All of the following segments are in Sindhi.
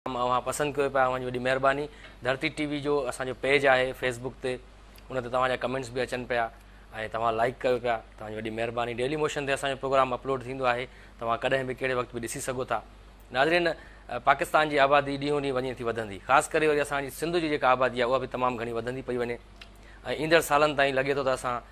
اوهان پسند ڪيو پيا اوهان جي وڏي مهرباني ڌرتي ٽي وي جو اسان جو پيج آهي فيسبوڪ تي ان تي توهان جا ڪمينٽس به اچن پيا ۽ توهان لائڪ ڪيو پيا توهان جي وڏي مهرباني ڊيلي موشن تي اسان جو پروگرام اپلوڊ ٿيندو آهي توهان ڪڏهن به ڪهڙي وقت به ڏسي سگهو ٿا ناظرين پاڪستان جي آبادي ڏينهون ڏينهن وڃي ٿي وڌندي خاص ڪري وري اسان جي سنڌ جي جيڪا آبادي آهي اها به تمام گهڻي وڌندي پئي وڃي ۽ ايندڙ سالن تائين لڳي ٿو ته اسان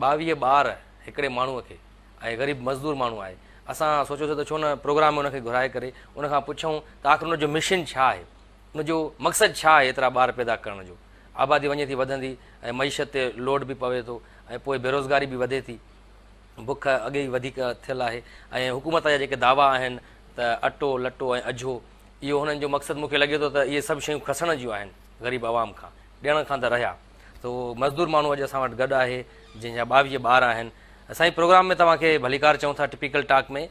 ٻاويهه ٻار هڪڙي ماڻهوء کي ۽ غريب مزدور ماڻهو آهي. اسان سوچيوسين ته ڇو نه پروگرام ۾ ان کي گهرائي ڪري ان کان پڇون ته آخر ان جو مشن ڇا آهي؟ ان جو مقصد ڇا آهي ايترا ٻار پيدا ڪرڻ جو؟ آبادي وڃي ٿي وڌندي ۽ معيشت تي لوڊ به پوي ٿو ۽ پوء بيروزگاري به وڌي ٿي. بک اڳي ئي وڌيڪ ٿيل آهي ۽ حڪومت جا جيڪي دعوا آهن ته اٽو، لٽو ۽ اجهو اهو هنن جو مقصد مون کي لڳي ٿو ته اهي سڀ شيون کسڻ جون آهن غريب عوام کان، ڏيڻ کان ته رهيا. سو مزدور ماڻهو اڄ اسان وٽ گڏ آهي جنهن جا ٻاويهه ٻار آهن سائين پروگرام ۾ توهان کي ڀليڪار چون ٿا ٽپيڪل ٽاڪ ۾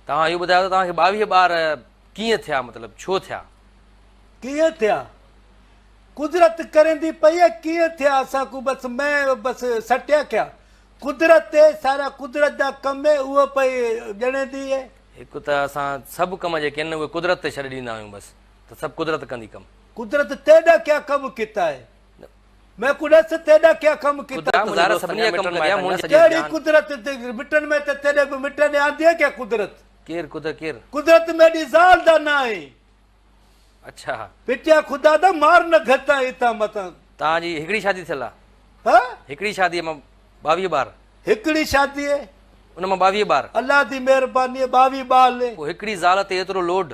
توهان اهو ٻڌايو ته توهان کي ٻاويهه ٻار ڪيئن ٿيا مطلب ڇو ٿيا ڪيئن ٿيا قدرت ڪرندي پئي ڪيئن ٿيا اسان ڪو بس مين بس سٽيا ڪيا قدرت تي سارا قدرت جا ڪم اهي اهو پئي ڄڻيندي اهي هڪ ته اسان سڀ ڪم جيڪي آهن اهي قدرت تي ڇڏي ڏيندا آهيون بس ته سڀ قدرت ڪندي ڪم قدرت تيڏا ڪيا ڪم ڪتا اي مين ڪو ڏس تيڏا ڪيا ڪم ڪتا تون. قدرت ظاهر سڀني جا ڪم ڪري ها منهنجي سڄي جان. ڪهڙي قدرت مٽن ۾ ته تيڏي ڪو مٽ ڏي آندي اي ڪيا قدرت. ڪير قدرت ڪير. قدرت ميڏي زال دا نا اي. اڇا. پٽيا خدا دا مار نه گهتان اتان متان. تان جي هڪڙي شادي ٿيل آ. ها. هڪڙي شادي مان ٻاويهه ٻار. هڪڙي شادي. ان مان ٻاويهه ٻار. الله دي مهرباني ٻاويهه ٻال. پو هڪڙي زال تي ايترو لوڊ.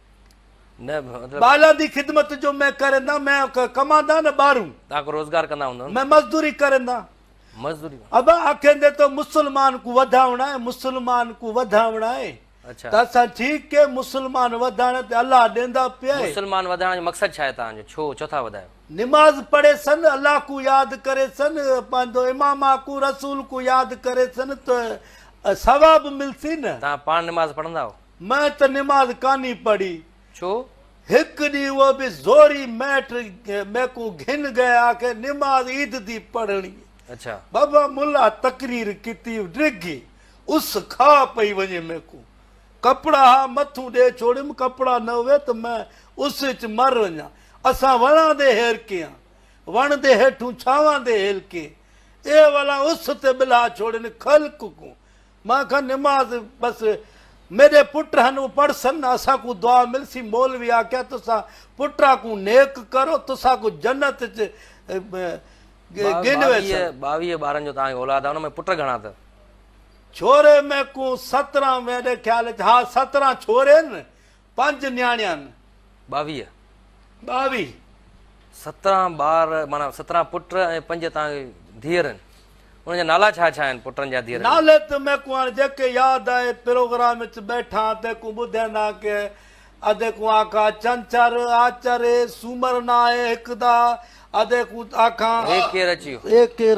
نه مطلب بالا دي خدمت جو مين ڪرندان مين ڪماندان نه ٻارون تان کو روزگار ڪندا هوندو مين مزدوري ڪرندان مزدوري ابا آکيندي تو مسلمان ڪو وڌاوڻا آهي مسلمان ڪو وڌاوڻا آهي اچھا ته اسان ٺيڪ ڪي مسلمان وڌاڻ تي الله ڏيندا پيا مسلمان وڌاڻ جو مقصد ڇا آهي تان جو ڇو ڇو ٿا وڌايو نماز پڙهي سن الله ڪو ياد ڪري سن پنهنجو امام ڪو رسول ڪو ياد ڪري سن ته ثواب ملسي نه تان پاڻ نماز پڙهندا هو مين ته نماز ڪانهي پڙهي. ڇو؟ هڪ ڏينهن اهو به زوري ميٽ ميڪون گهن گهي آکي نماز عيد دي پڙهڻي. اڇا. بابا ملا تقرير ڪتي ڊگهي اس کاء پئي وڃي ميڪون ڪپڙا ها مٿون ڏي ڇوڙيم ڪپڙا نه هوي ته مين اس اچ مر وڃان اسان وڻان دي هيرڪين آن وڻ دي هيٺون ڇانوان دي هيلڪين اي ولا اس تي ٻلها ڇوڙين کل ڪڪون مان کان نماز بس ميري پٽ هن او پڙھ سن نہ اسا ڪون دعا ملسي مولوي آکيا تسا پٽا ڪون نيڪ کرو تسا ڪون جنت چ گن ويسن باويه بارن جو تان کي اولاد آ ان ۾ پٽ گھڻا تھ ڇوري مي ڪون ستران ميري خيال چ ھا ستران ڇوري ن. پنج نياڻيان. ٻاويهه. ٻاويهه. سترهن ٻار معنيٰ سترهن پٽ ۽ پنج توهان کي ڌيئرن. انهن جا نالا ڇا ڇا آهن پٽن جا ڌيئرن جا؟ نالي ته ميڪون هاڻي جيڪي ياد آهي پروگرام وچ ٻيٺان تيڪون ٻڌيندا ڪي ادي ڪون آکا چنچر، آچري، سومر ناهي هڪ دا ادي ڪون آکان. اي ڪير اچيو. اي ڪير.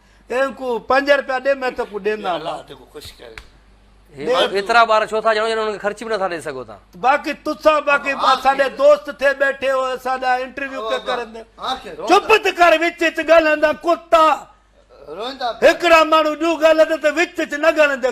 تنهن ڪو پنج رپيا ڏي مين توکون ڏيندان مان. ايترا ٻار ڇو ٿا ڄڻو ڄڻ انهن کي خرچ به نٿا ڏئي سگهو ٿا. باقي تسان باقي اسان ڏي دوست ٿئي ٻيٺي هو اسان ڏا انٽرويو پيا ڪرن چپ ته ڪر وچ وچ ڳالهائيندا ڪتا هڪڙا ماڻهو ڏيو ڳالهائيندا ته وچ وچ نه ڳالهائيندا.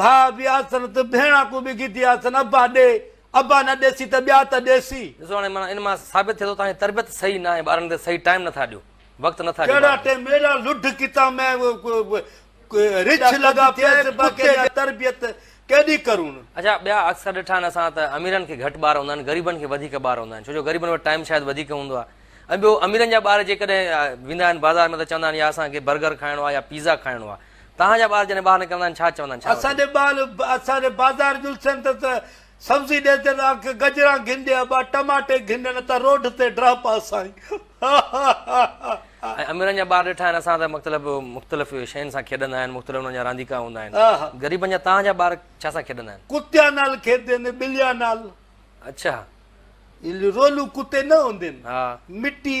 ڀاء به آسن ته ڀيڻان ڪو به گيدي آسن ابا ڏي ابا نه ڏيسي ته ٻيا ته ڏيسي. ڏسو هاڻي معنيٰ ان مان ثابت ٿئي ٿو توهان جي تربيت صحيح ناهي ٻارن تي صحيح ٽائيم نٿا ڏيو وقت نٿا ڏيو ٻارن کي. ميرا لڍ ڪتا مين رڇ لڳا پيس با ڪيڏي تربيت ڪيڏي ڪرون. اڇا ٻيا اڪثر ڏٺا آهن اسان ته اميرن کي گهٽ ٻار هوندا آهن غريبن کي وڌيڪ ٻار هوندا آهن ڇو جو غريبن وٽ ٽائيم شايد وڌيڪ هوندو آهي ۽ ٻيو اميرن جا ٻار جيڪڏهن ويندا آهن بازار ۾ ته چوندا آهن يا اسان کي برگر کائڻو آهي يا پيزا کائڻو آهي توهان جا ٻال جڏهن ٻاهر نڪرندا آهن ڇا چوندا آهن؟ ڇا اسان وٺن؟ جي ٻال اسان جي بازار جلسن ته ته سبزي ڏي ته آ ڪه گجران گهن ڏي ابا ٽماٽي گهن ڏي نه ته روڊ تي ڊهه پا سائين هاهاهاها. ۽ اميرن جا ٻار ڏٺا آهن اسان ته مختلف مختلف شين سان کيڏندا آهن مختلف انهن جا رانديڪا هوندا آهن آها. غريبن جا توهان جا ٻار ڇا سان کيڏندا آهن؟ ڪتيان نال کيڏين ٻليان نال اڇا. رولون ڪتي نه هوندين ها. مٽي.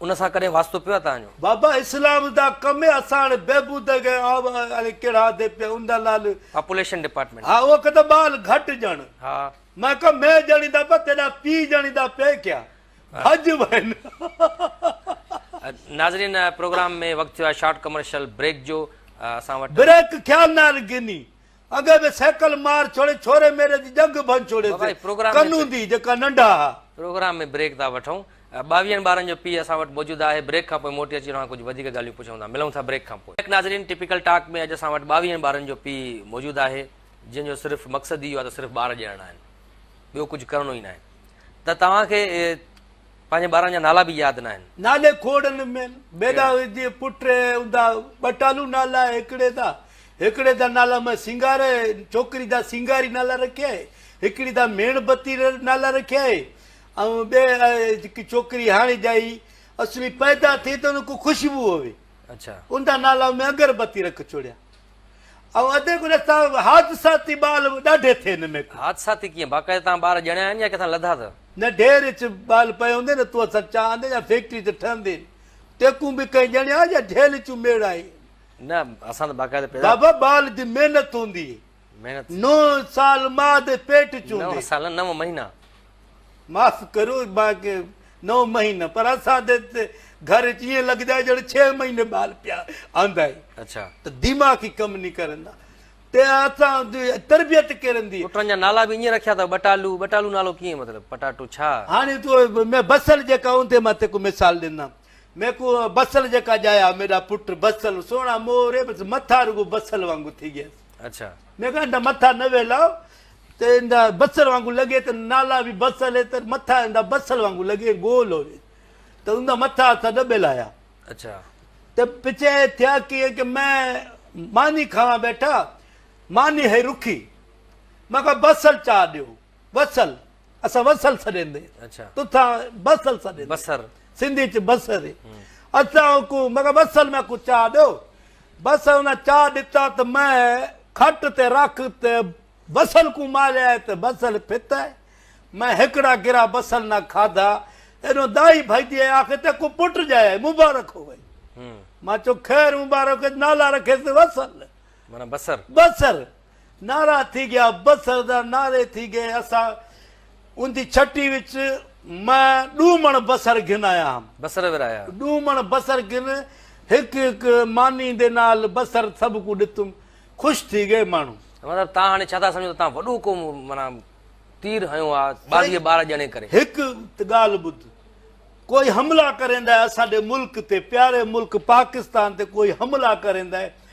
ان سان ڪڏهن واسطو پيو آهي توهان جو؟ بابا اسلام دا ڪم اي اسان هاڻي بهبود اگهي آب الي ڪهڙا آدي پيا ان دا لال پاپوليشن ڊپارٽمينٽ ها او ڪه ته بال گهٽ جڻ ها مئن ڪه مئن جڻي دا پيا تيڏا پي جڻي دا پي ڪيا ڀڄ وين ناظرين پروگرام ۾ وقت ٿيو آهي شارٽ ڪمرشل بريڪ جو اسان وٽ بريڪ خيال نال گني اڳي به سيڪل مار ڇوڙي ڇوري ميري جي ڄنگهه ڀڃ ڇوڙي تي ڪن هوندي جيڪا ننڍا ها. پروگرام ۾ بريڪ ٿا وٺون. ٻاويهن ٻارن جو پيء اسان وٽ موجود آهي. بريڪ کان پوء موٽي اچي اوهان ڪجهه وڌيڪ ڳالهيون پڇون ٿا. ملون ٿا بريڪ کان پوء. بريڪ ناظرين ٽپيڪل ٽاڪ ۾ اڄ اسان وٽ ٻاويهن ٻارن جو پيء موجود آهي جنهن جو صرف مقصد ئي اهو آهي ته صرف ٻار ڄڻڻا آهن ٻيو ڪجهه ڪرڻو ئي ناهي ته توهان کي پنهنجي ٻارن جا نالا به ياد ناهن. نالي کوڙن ۾، بيلا جي پٽ هوندا ٻه ٽالو نالا هڪڙي دا هڪڙي دا نالا مان سينگار ڇوڪري دا سينگاري نالا رکيا هي هڪڙي دا ميڻ بتي نالا رکيا هي ۽ ٻي جيڪي ڇوڪري هاڻي ڄائي اسلي پيدا ٿي ته ان کي خوشبو هوي اوندا نالا مان اگر بتي رک ڇوڙيا. ۽ ادي گڏ سان حادثاتي ٻال به ڏاڍي ٿي هن ميڪ. حادثاتي ڪيئن؟ باقاعده توهان ٻار ڄڻيا آهن يا ڪٿان لڌا اٿئو؟ نه ڍير اچ ٻال پئي هوندي نه تو اسان چا آندي يا فيڪٽري تي ٺهندي ٽيڪون به ڪئين ڄڻيا يا ڍيل اچون ميڙ آهي. نه اسان ته باقاعده پيدا. بابا ٻال جي محنت هوندي. محنت. نو سال ماء دي پيٽ چوندي. نو سال نه نو مهينا. معاف ڪريو مانکي نو مهينا پر اسان دي ته گهر اچ ائين لڳدا آهي ڄڻ ڇهه مهيني ٻال پيا آندا آهن اچھا ته دماغ ئي ڪم ني ڪرندا ته اسان جي تربيت ڪيرن دي پٽن جا نالا به ائين رکيا اٿو ٻٽالو ٻٽالو نالو ڪيئن مطلب پٽاٽو ڇا هاڻي تو ۾ بصل جيڪا اوندي مان تيکو مثال ڏنا ميکو بصل جيڪا ڄايا ميڏا پٽ بصل سونا موري بس مٿا رڳو بصل وانگو ٿي گيس اچھا ميکو اندا مٿا نه ويلاو ته اندا بصر وانگو لڳي ته نالا وي بصل هي ته مٿا اندا بصل وانگو لڳي ۽ گول هوي ته اندا مٿا اتها ڏٻيل آيا اچا ته پچي ٿيا ڪيئن ڪي مين ماني کاوان ٻيٺا ماني هي رکي مان کان بصل چا ڏيو وصل اسان وصل سڏيندي اچا تو ٿا بصل سڏيندي بصر سنڌي چ بصر هي اسان کو مان کان بصل مان کو چا ڏيو بس ان چاء ڏتا ته مئي کٽ تي رک ته بصل ڪون ماريائي ته بصل پھتائي. مئي ھڪڙا گرا بصل نه کاڌا. ايڏو دائي ڀڄي ۽ آخر ته ڪو پٽ ڄايائي. مبارڪ ھوئي. مان چيو خير مبارڪ ھوئي ته نالا رکيس بصل. معنيٰ بصر. بصر. نعرا ٿي گيا بصر دا نعري ٿي گئي اسان اوندي ڇٽي وچ مان ڏو مڻ بصر گھن آيا ھم بصر ورايا ڏو مڻ بصر گھن ھڪ ھڪ ماني دي نال بصر سڀ ڪو ڏتم خوش ٿي گئي ماڻھو. مطلب تان ھاڻي ڇا ٿا سمجھو ته تان وڏو ڪو معنيٰ تير ھنيو آ ٻارھيء ٻار ڄڻي ڪري. ھڪ ته ڳالھ ٻڌ ڪوئي حملا ڪريندائي اسان ڏي ملڪ تي پياري ملڪ پاڪستان تي ڪوئي حملا ڪريندائي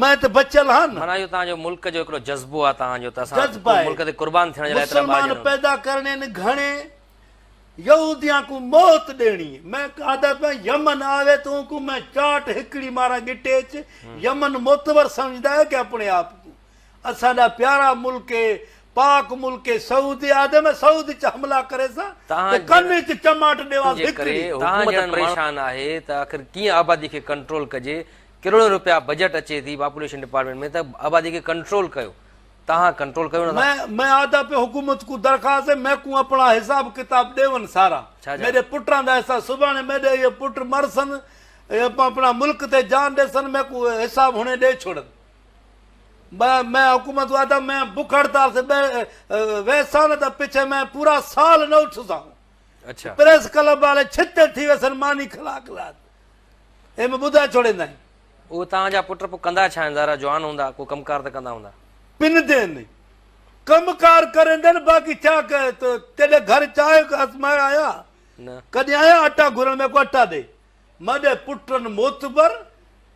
مئن ته بچيل ها نه. معنيٰ اهو توهان جو ملڪ جو هڪڙو جذبو آهي توهان جو ته اسان جذبه آهي ملڪ تي قربان ٿيڻ جي لاء ايترا ٻار مسلمان ڄڻو. پيدا ڪرڻي نه گهڻي يهوديان ڪون موت ڏيڻي مئن قاده پئن يمن آوي تو ڪون مئن چاٽ هڪڙي ماران ڳٽيچ يمن معتبر سمجهندا آهيو ڪي اپڻي آپ ڪون اسان ڏا پيارا ملڪ اي پاڪ ملڪ اي سعودي آدي مئن سعود اچ حملا ڪري سان ته ڪن اچ چماٽ ڏيواس هڪڙي. توهان جهڙن ماڻهن. پريشان آهي ته آخر ڪيئن آبادي کي ڪنٽرول ڪجي. ڪروڙين روپيا بجيٽ اچي ٿي پاپوليشن ڊپارٽمينٽ ۾ ته آبادي کي ڪنٽرول ڪيو تهان ڪنٽرول ڪيو نه ٿا. مين آدا پي حڪومت ڪون درخواست هي مين ڪون اپڻا حساب ڪتاب ڏيون سارا ميري پٽان دا حساب سڀاڻي ميري اهي پٽ مرسن اپڻا ملڪ تي جان ڏيسن مين ڪون حساب هڻي ڏي ڇوڙن مين حڪومت ڪون آدا مين بک هڙتال سي ويسان نه ته پڇي مين پورا سال نه اٿسان پريس ڪلب والي ڇتي ٿي ويسن ماني کلاڪ لاد ايم ٻڌائي ڇوڙيندائين. اهو توهان جا پٽ پوء ڪندا ڇا آهن؟ ظاهر آهي جوان هوندا، ڪو ڪم ڪار ته ڪندا هوندا. پن دين ني ڪم ڪار ڪريندن، باقي ڇا ڪهي ته ڪيڏي گهر چانهه آزمائي آيا، ڪڏهن آيا اٽا گهرڻ ۾ ڪو اٽا ڏي. ماڏئي پٽن موتبر.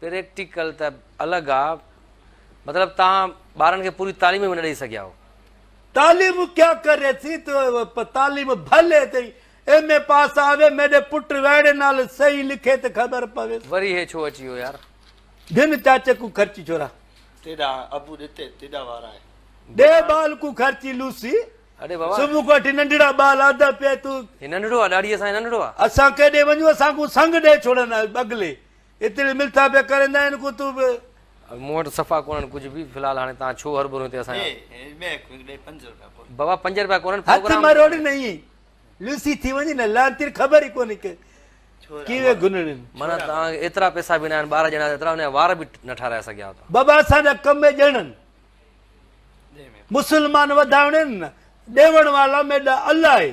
پريڪٽيڪل ته الڳ آ مطلب تهان ٻارن کي پوري تعليم به نه ڏئي سگهيا آهو. تعليم ڪيا ڪري ٿي تو تعليم ڀلي تي ايم اي پاس آوي ميڏي پٽ وهڙي نال صحيح لکي ته خبر پوي. وري هي ڇو اچي ويو يار. ڌن چاچي ڪو خرچي ڇورا. تيڏا ابو ڏتي تيڏا وار آهي. ڏي ٻال ڪو خرچي لوسي. اڙي بابا. صبح کان وٺي ننڍڙا ٻال آڌا پيا تون. هي ننڍڙو آ ڏاڙهي سان هي ننڍڙو آ. اسان ڪيڏي وڃون اسان ڪو سنگ ڏئي ڇوڙن بغلي. ايتري ملٿا پيا ڪرين ته ان کون تون به. مون وٽ صفا ڪونهن ڪجهه به. في الحال هاڻي توهان ڇو هربرو هتي اسان جا. بابا پنج روپيا ڪونهن پروگرام. هٿ مروڙ نه ائين لوسي ٿي وڃ نه لعنتي خبر ئي ڪونهي ڪي ڪيوي گنڙين. معنيٰ توهان کي ايترا پئسا به ناهن ٻارهن ڄڻا ايترا ان جا وار به نه ٺاراهي سگهيا توهان. بابا اسان جا ڪم ئي ڏيڻن مسلمان وڌائڻ آهن نه ڏيوڻ وارا ميڏا الله آهي.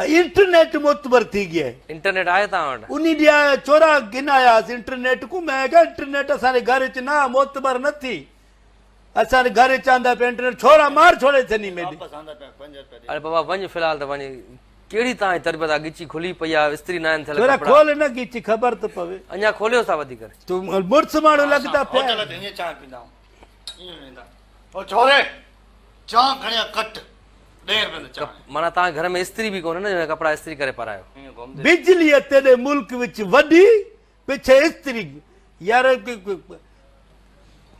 انٽرنيٽ معتبر ٿي گيا آهي. انٽرنيٽ آهي توهان وٽ. انهي ڏي آيا چورا گهن آياس انٽرنيٽ ڪون مئن آکيا انٽرنيٽ اسان ري گهر اچ نه معتبر نه ٿي اسان ري گهر اچ آندا پيا انٽرنيٽ ڇورا مار ڇوڙي ٿني مين ڏي. اڙي بابا وڃ في الحال ته وڃ ڪهڙي توهان جي تربيت آ گچي کلي پئي آ استري ناهن ٿيل ڇورا ڪپڙا. کول نه گچي خبر ته پوي. اڃا کوليوس ٿا وڌيڪ. تون مڙس ماڻهو لڳدا پيا. ڪيئن ويندا او ڇوري چانھ کڻي آ ڪٽ ڏير ۾ ته چانھ. معنيٰ توهان کي گهر ۾ استري به ڪونهي نه جو هي ڪپڙا استري ڪري پارايو. بجلي تيڏي ملڪ وچ وڏي پڇي استري يار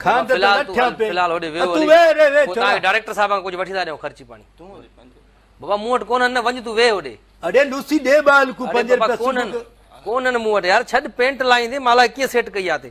کان ته لٺيان پي فلحال هوڏي ويهو هلي پوء توهان کي ڊائريڪٽر صاحب کان ڪجهه وٺي ٿا ڏيون خرچي پاڻي بابا مون وٽ ڪونهن نه وڃ تون ويهه هوڏي اڙي لوسي ڏي ٻال ڪون پنج روپيا ڪونهن ڪونهن مون وٽ يار ڇڏ پينٽ لائيندي مان لاء ڪيئن سيٽ ڪئي آ تي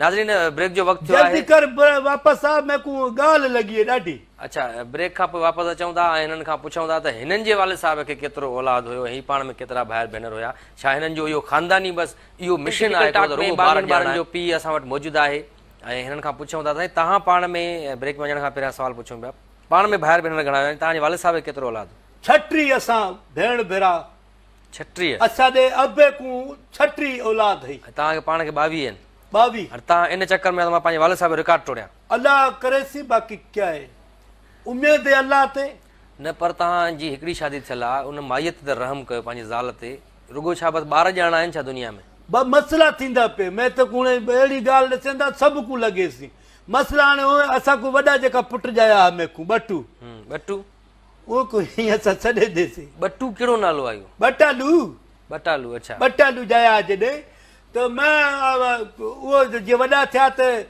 ناظرين بريڪ جو وقت ٿيو آهي. جلدي ڪر واپس آ ميکون ڳالهه لڳي هي ڏاڍي. اڇا بريڪ کان پوء واپس اچون ٿا ۽ هنن کان پڇون ٿا ته هنن جي والد صاحب کي ڪيترو اولاد هيو ۽ هي پاڻ ۾ ڪيترا ڀائر ڀينر هيا ڇا هنن جو اهو خانداني بس اهو مشن آهي ڪو ته رڳو ٻارن ٻارن جو پيء اسان وٽ موجود آهي ۽ هنن کان پڇون ٿا ته سائين توهان پاڻ ۾ بريڪ ۾ وڃڻ کان پهريان سوال پڇون پيا پاڻ ۾ ڀائر ڀينر گهڻا هيا ۽ توهان جي والد صاحب کي ڪيترو اولاد هيو. ڇٽيهه اسان ڀيڻ ڀيرا ڇٽيهه. اسان ڏي ابي ڪون ڇٽيهه اولاد هئي. توهان کي پاڻ کي ٻاويهه آهن. ٻاويهه. هاڻي توهان ان چڪر ۾ آهيو ته مان پنهنجي والد صاحب جو رڪارڊ ٽوڙيان. الله ڪري سي باقي ڪيا هي اميد هي الله تي. نه پر توهان جي هڪڙي شادي ٿيل آهي ان مائيء تي ته رحم ڪيو پنهنجي زال تي رڳو ڇا بس ٻار ڄاڻا آهن ڇا دنيا ۾. ٻه مسئلا ٿيندا پي مين ته ڪون اهڙي ڳالهه ڏسين ٿا سڀ ڪون لڳي سي مسئلا هاڻي هو اسان ڪون وڏا جيڪا پٽ ڄايا ها مين ڪون ٻٽو. ٻٽو. او ڪو هين اسان سڏي دي سي. ٻٽو ڪهڙو نالو آيو. ٻٽالو. ٻٽالو اڇا. ٻٽالو جايا جڏهن ته مان او جي وڏا ٿيا ته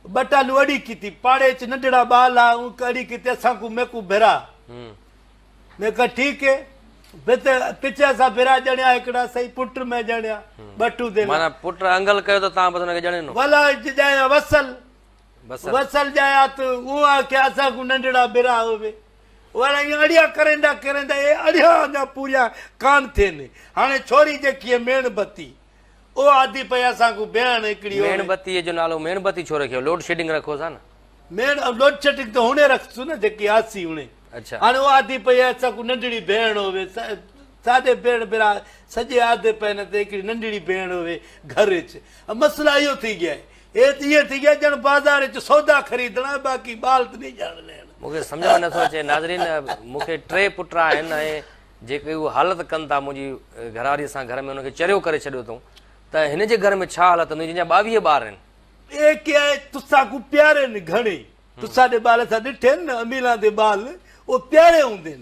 ٻٽالو اڙي ڪيتي پاڙي اچ ننڍڙا ٻال آ او ڪو اڙي ڪيتي اسان ڪو مي ڪو ڀرا هين مي ڪا ٺيڪ هين بس پچ اسان ڀرا ڄڻيا هڪڙا سهي پٽ مي ڄڻيا ٻٽو دي مانا پٽ انگل ڪيو ته تان بس هن کي ڄڻينو ولا جي ڄايا وصل. وصل ڄايا ته اهو آ ڪي اسان ڪو ننڍڙا برا هوي وڙ ائين اڙيا ڪريندا ڪريندا اهي اڙيا اڃا پوريا ڪان ٿين هاڻي ڇوري جيڪي هي ميڻ بتي او آدي پئي اسان ڪو بيهڻ هڪڙي هوي ميڻ بتي جو نالو ميڻ بتي ڇو رکيو لوڊ شيڊنگ رکو سا نه ميڻ لوڊ شيڊنگ ته هوني رکسو نه جيڪي آسي هوني اچھا هاڻي او آدي پئي اسان ڪو ننڍڙي بيهڻ هوي ساڏي بيڻ برا سڄي آدي پئي نه ته هڪڙي ننڍڙي بيهڻ هوي گهر اچ مسئلا اهو ٿي گيا هي ته ائين ٿي ويا ڄڻ بازار وچ سودا خريدڻ ۽ باقي ٻال ته نيجا هڻي لهڻ. مون کي سمجهه ۾ نه ٿو اچي ناظرين مون کي ٽي پٽ آهن ۽ جيڪي اهو حالت ڪن ٿا منهنجي گهرواري سان گهر ۾ ان کي چريو ڪري ڇڏيو اٿئون ته هن جي گهر ۾ ڇا حالت هوندي جنهن جا ٻاويهه ٻار آهن. اهي ڪي آهي تسان ڪون پيارين گهڻي تسان ڏي ٻال اسان ڏٺين نه اميلان دي ٻال او پياري هوندين.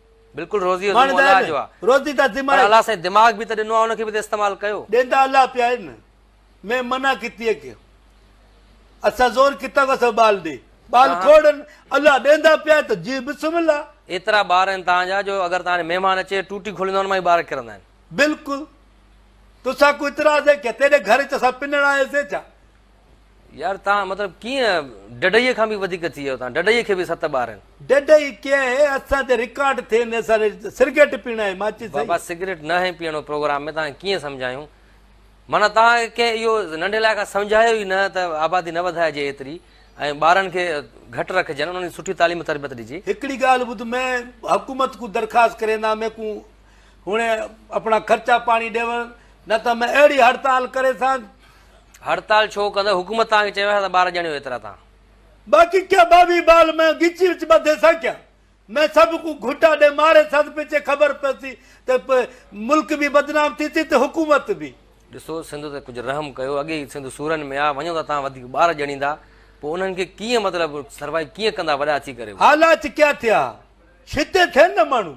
بلڪل روزي جو ذمو الله جو آ روزي دا ذمو پر الله سائين دماغ به ته ڏنو آ ان کي به ته استعمال ڪيو. ڏيندا الله پيا آهن مين منع ڪتي آ ڪي اسان زور ڪتا ڪو اسان ٻال ڏي ٻال کوڙن الله ڏيندا پيا ته جي بسم الله. ايترا ٻار آهن تهان جا جو اگر تهان ڏي مهمان اچي ٽوٽي کوليندا ان مان ئي ٻار ڪرندا آهن. بلڪل توسان ڪو اعتراض آهي ڪي تيڏي گهر اچ اسان پنڻ آيا سين ڇا. يار تان مطلب ڪيئن ڊڊئي کان به وڌيڪ ٿي ويو تان ڊڊئي کي به ست ٻار آهن. ڊڊئي ڪيئن اهي اسان تي رڪارڊ ٿين اسان تي سرگٽ پيڻ آهي ماچس سهي. بابا سگريٽ نه هي پيئڻو پروگرام ۾ تان ڪيئن سمجهايون معنيٰ تان ڪنهن اهو ننڍي لاء کان سمجهايو ئي نه ته آبادي نه وڌائجي ايتري ۽ ٻارن کي گهٽ رکجن انهن کي سٺي تعليم تربيت ڏجي. هڪڙي ڳالهه ٻڌ مين حڪومت ڪون درخواست ڪريندا مين ڪون هونء اپڻا خرچا پاڻي ڏيون نه ته ۾ اهڙي هڙتال ڪري سان. هڙتال ڇو ڪندو حڪومت توهان کي چيو آهي ته ٻار ڄڻيو ايترا تان. باقي ڪيا ٻاوهي ٻال ۾ ڳچي وچ ٻڌي سان ڪيا ۾ سڀ ڪو گهٽا ڏي ماري سان پچي خبر پسي ته ملڪ به بدنام ٿي سي ته حڪومت به. ڏسو سنڌ تي ڪجهه رحم ڪيو اڳي ئي سنڌ سورن ۾ آ وڃو ته توهان وڌيڪ ٻار ڄڻيندا پو انهن کي ڪيئن مطلب سروائي ڪيئن ڪندا وڏا ٿي ڪري. حالات ڪيا ٿيا ڇتي ٿين نه ماڻهو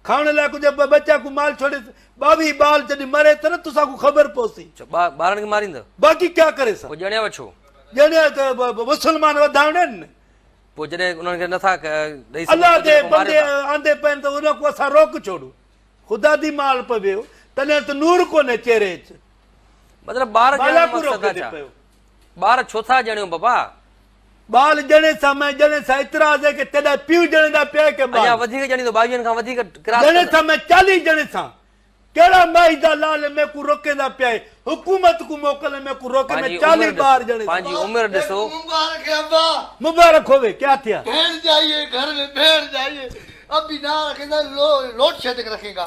کائڻ لاء ڪجهه ٻه ٻچا ڪو مال ڇوڙيس، ٻاويهه ٻال جڏهن مري ته نه توسان ڪو خبر پوسي. اڇو ٻا ٻارن کي ماريندء. باقي ڪيا ڪري سان. پوء ڄڻيا وڇو. ڄڻيا ته مسلمان وڌائڻا آهن نه. پوء جڏهن انهن کي نه ٿا ڏئي سگهون. الله جي بندي آندي پين ته انهن کون اسان روڪ ڇوڙون. خدا دي مال پويو تڏهن ته نور ڪونهي چيري اچ. مطلب ٻار ڄڻڻ جو مقصد ڇا. ٻار ڇو ٿا ڄڻيو بابا؟ ٻال ڄڻي سا مئي ڄڻي سا اعتراض هي ڪي تيڏا پيء ڄڻي دا پيا ڪي ٻال. اڃا وڌيڪ ڄڻيندو ٻاويهن کان وڌيڪ ڪراس ڪندو. ڄڻي سا مئي چاليهه ڄڻي سا ڪهڙا مائي دا لال ميڪون روڪيندا پيا هي حڪومت ڪون موڪل ميڪون روڪي مئي چاليهه ٻار ڄڻي سا. پنهنجي عمر ڏسو. مبارڪ هي ابا. مبارڪ هوي ڪيا ٿيا. ڀيڻ جائيي گهر مين ڀيڻ جائيي ابي نارکيندا لوٽ شيتڪ رکينگا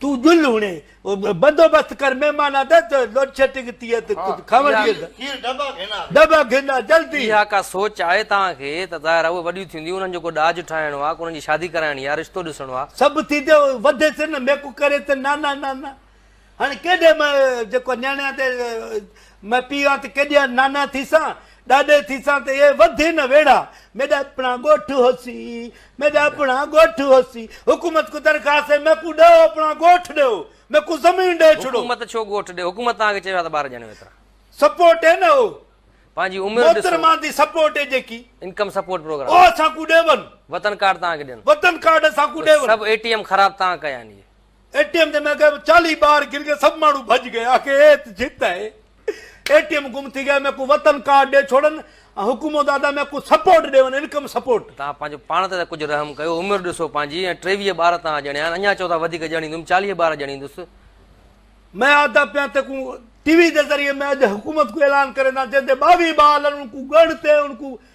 تون ڄل هڻي بندوبست ڪر مهمان آ ته لوڊ شيٽنگ ٿي ا ته ڪجهه کاوڻ ڏي ته کير ڊبا گهن آ ڊبا گهن آ جلدي. اها ڪا سوچ آهي توهان کي ته ظاهر آ اهي وڏيون ٿينديون انهن جو ڪو ڏاج ٺاهڻو آ ڪو انهن جي شادي ڪرائڻي آ رشتو ڏسڻو آ. سڀ ٿيندي وڌي سي نه ميڪو ڪري ته نانا نانا هاڻي ڪيڏي م جيڪو نياڻيان تي م پيو آ ته ڪيڏي نانا ٿيسان ڏاڏي ٿيسان ته اهي وڌي نه ويڙها، ميڏا اپڻا ڳوٺ هوسي، ميڏا اپڻا ڳوٺ هوسي، حڪومت ڪو درخواست هي، ميڪون ڏهو اپڻا ڳوٺ ڏيو، ميڪون زمين ڏي ڇڏو. حڪومت ڇو ڳوٺ ڏي، حڪومت توهان کي چيو آهي ته ٻار ڄڻيو ايترا. سپورٽ هي نه اهو. پنهنجي عمر ڏسو. محترمه جي سپورٽ هي جيڪي. Income support programme. اهو اسان کون ڏيون. وطن ڪارڊ توهان کي ڏين. وطن ڪارڊ اسان کون ڏيون. سڀ اي ٽي ايم خراب توهان ڪيا آهن اهي. اي ٽي ايم تي ميڪ اپ چاليهه بار گر گيو سڀ ماڻهو ڀڄ گيا آخر ايت جت آهي اي ٽي ايم گم ٿي گيا ميڪو وطن ڪارڊ ڏي ڇوڙن ۽ حڪومت ادا ميڪو سپورٽ ڏيون انڪم سپورٽ. تان پنهنجو پاڻ تي ته ڪجهه رحم ڪيو عمر ڏسو پنهنجي ۽ ٽيويهه ٻار تان ڄڻيا آهن اڃان چئو ٿا وڌيڪ ڄڻيندم چاليهه ٻار ڄڻيندس. مين ادا پيان تي ڪون ٽي وي جي ذريعي مين اڄ حڪومت ڪون اعلان ڪرين ٿا جن تي ٻاويهه ٻار لن ان ڪون ڳڙ تي ان ڪون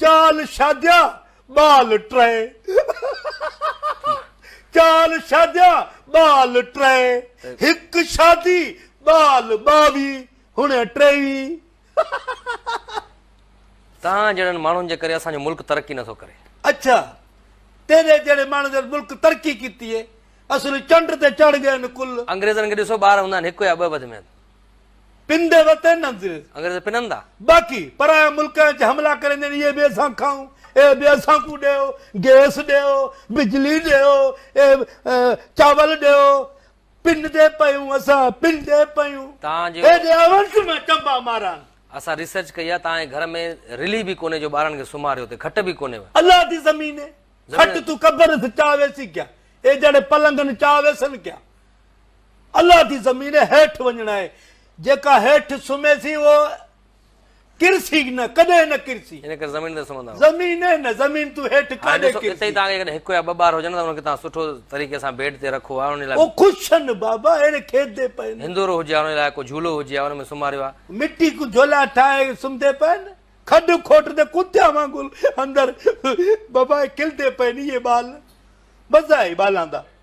چال شاديا ٻال ٽرئي چال شاديا ٻال ٽرئي هڪ شادي ٻال ٻاوي هڻ ٽيوي تان جهڙن ماڻهن جي ڪري اسان جو ملڪ ترقي نٿو ڪري. اڇا تيري جهڙي ماڻهن جهڙن ملڪ ترقي ڪيتي اصل چنڊ تي چڙ ڳئن ڪل. انگريزن کي ڏسو ٻار هوندا آهن هڪ يا ٻه وڌ ۾ وڌ. پنڌ وتي ننڌ. انگريز پنندا. باقي پرايان ملڪ آهن چي حملا ڪريندين اهي به اسان کائون اهي به اسان ڪون ڏيو گيس ڏيو بجلي ڏيو چاول ڏيو پن تي پيون اسان پن تي پيون تان جي ايڏي اوس مان چنبا ماران. اسان ريسرچ ڪئي آ تان جي گهر ۾ رلي به ڪونهي جو ٻارڙن کي سمهاريو تي کٽ به ڪونهي و. الله دي زميني کٽ تون قبر سچاء ويسي ڪيا اي جهڙي پلنگن چاء ويسن ڪيا. الله دي زمين هيٺ وڃڻ آهي جيڪا هيٺ سمهي سي اهو ڪرسي نه ڪڏهن نه ڪرسي ان ڪري زمين تي سمهندا آهيو زمين نه نه زمين تون هيٺ ڪاڏي ڪرسي اتي تان کي هڪ يا ٻه ٻار هجن ته ان کي تان سٺو طريقي سان بيڊ تي رکو آهي ان لاء او خوشن بابا اهڙي کيدي پئي نه هندورو هجي ان لاء ڪو جھولو هجي ان ۾ سمهاريو آهي مٽي ڪو جھولا ٺاهي سمهدي پئي نه کڏ کوٽ تي ڪتيا وانگل اندر بابا کلدي پئي نه اهي ٻال مزا ئي ٻالان دا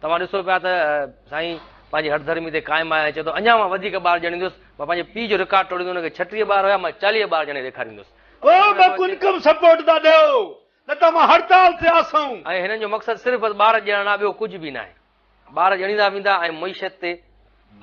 توهان ڏسو پيا ته سائين پنهنجي هٺڌرمي تي قائم آهي ۽ چئي ٿو اڃا مان وڌيڪ ٻار ڄڻيندس، مان پنهنجي پيء جو رڪارڊ ٽوڙيندس، هن کي ڇٽيهه ٻار هيا، مان چاليهه ٻار ڄڻي ڏيکاريندس. ڪو به انڪم سپورٽ ته ڏيو نه ته مان هڙتال تي آسون. ۽ هنن جو مقصد صرف بس ٻار ڄڻڻ آهي ٻيو ڪجهه به ناهي. ٻار ڄڻيندا ويندا ۽ معيشت تي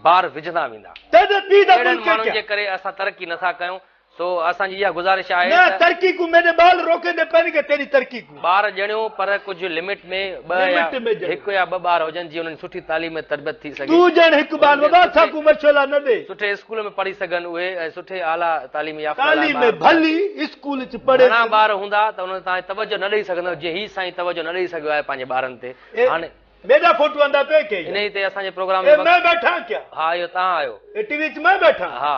بار وجهندا ويندا. اهڙن ماڻهن جي ڪري اسان ترقي نٿا ڪيون، سو اسان جي اها گذارش آهي ته. نه ترقي ڪون ميني بال روڪي نه پائين گا تيري ترقي ڪون. ٻار ڄڻيو پر ڪجهه لمٽ ۾ ٻه يا هڪ يا ٻه ٻار هجن جي انهن جي سٺي تعليم ۽ تربيت ٿي سگهي. تون ڄڻ هڪ ٻار بابا اسان ڪون مشعلا نه ڏي. سٺي اسڪول ۾ پڙهي سگهن اهي ۽ سٺي اعليٰ تعليم يافته لاء ٻار. تعليم ڀلي اسڪول چ پڙهي. گهڻا ٻار هوندا ته انهن تي توهان توجه نه ڏئي سگهندو جيئن هي سائين توجه نه ڏئي سگهيو آهي پنهنجي ٻارن تي هاڻي. ميڊا فوٽو آندا پئي ڪئي. انهي تي اسان جي پروگرام جو مقصد. اي مان بيٺان ڪيا. ها اهو توهان آهيو. اي ٽي وي چ مان بيٺان. ها.